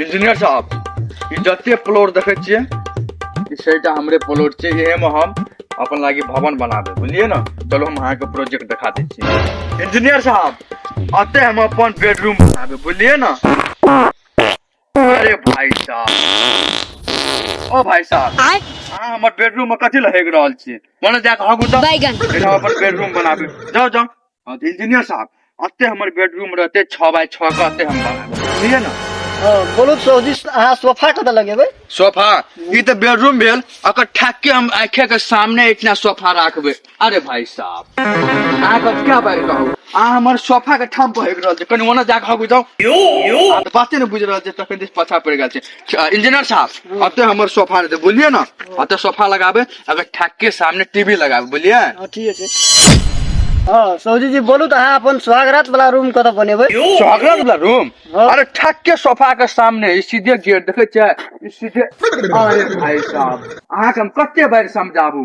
Engineer साहब ई जते प्लॉट देखै छियै ई छटा हमरे प्लॉट छै एहेमे हम अपन लागि भवन बना देब बुझलियै ने चलो हम अहाँके प्रोजेक्ट देखा दै छी इंजीनियर साहब अते हम अपन बेडरूम बनाबे बुझलियै ने अरे भाई साहब ओ भाई साहब आय अहाँ हमर बेडरूम में कथी लग रहल छी मने जाके हगू जाओ बैगन एहिठाम अपन बेडरूम बनाबे जाओ जाओ हाँ तो इंजीनियर साहब अते हमर बेडरूम रहते छः बाय छः का अते हम बनाएब बुझलिए ना हाँ बोलू तो सौजी अहाँ सोफा कतऽ लगेबै सोफा ई तऽ बेडरूम भेल अकर ठाक के हम आँखे के सामने इतना सोफा राखबे अरे भाई साहब अहाँ के क्या बात कहू अहाँ हमर सोफा के ठाम बहक रहल छै कनि ओना जाके हगु जाउ अहाँ तऽ बाते ने बुझि रहल छै तखन दिस पाछा पड़ि गेल छै इंजीनियर साहब अते हमर सोफा दे बोलिए ना अते सोफा लगाबे अगर ठाक के सामने टीवी लगाबे बोलिए हाँ, ठीक है हाँ सौजी जी बोलू तो हाँ अपन स्वागत वाला रूम कत बनेबे स्वागत वाला रूम हाँ। अरे ठाक के सोफा के सामने ई सीधे गेट देखे छै ई सीधे अरे भाई साहब अहाँ के हम कते बार समझाबू